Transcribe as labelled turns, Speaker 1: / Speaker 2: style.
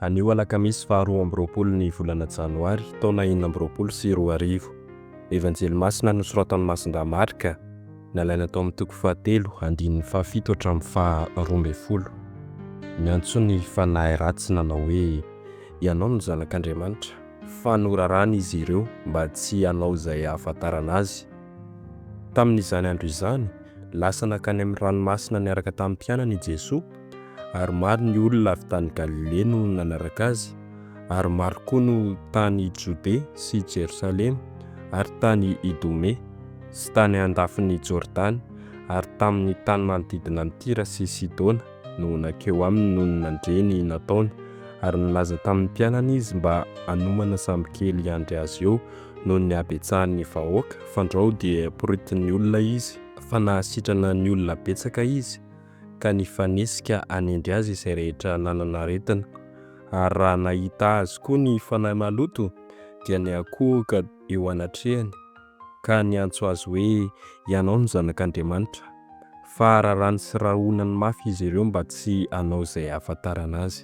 Speaker 1: Anio alakamisy faha roa amby roapolo ny volana janoary taona enina amby roapolo sy roa arivo. Evanjely masina nosoratan'i Masindahy Marka, nalaina tao amin'ny toko fahatelo, andininy fahafito hatramin'ny faha roa ambin'ny folo. Miantso ny fanahy ratsy nanao hoe, Ianao no Zanak'Andriamanitra. Fa norarana izy ireo mba tsy hanao izay hahafantarana azy Tamin'izany andro izany, lasa nankany amin'ny ranomasina niaraka tamin'ny mpianany i Jesoa, ary maro ny olona avy tany Galilea no nanaraka Azy, ary maro koa no tany Jodea sy Jerosalema, ary tany Idomea, sy tany andafin'i Jordana, ary tamin'ny tany manodidina an'i Tyra sy Sidona, no nankeo Aminy nony nandre ny nataony, ary nilaza tamin'ny mpianany Izy mba hanomana sambokely hiandry Azy eo. noho ny habetsahan'ny vahoaka, fandrao dia poritin'ny olona izy, fa nahasitrana ny olona betsaka izy, ka nifanesika hanendry azy izay rehetra nanana aretina, ary raha nahita azy koa ny fanahy maloto, dia niankohoka eo anatrehany, ka niantso azy hoe, Ianao no Zanak'Andriamanitra. Fa raràny sy rahonany mafy izy ireo mba tsy hanao izay hahafantarana azy.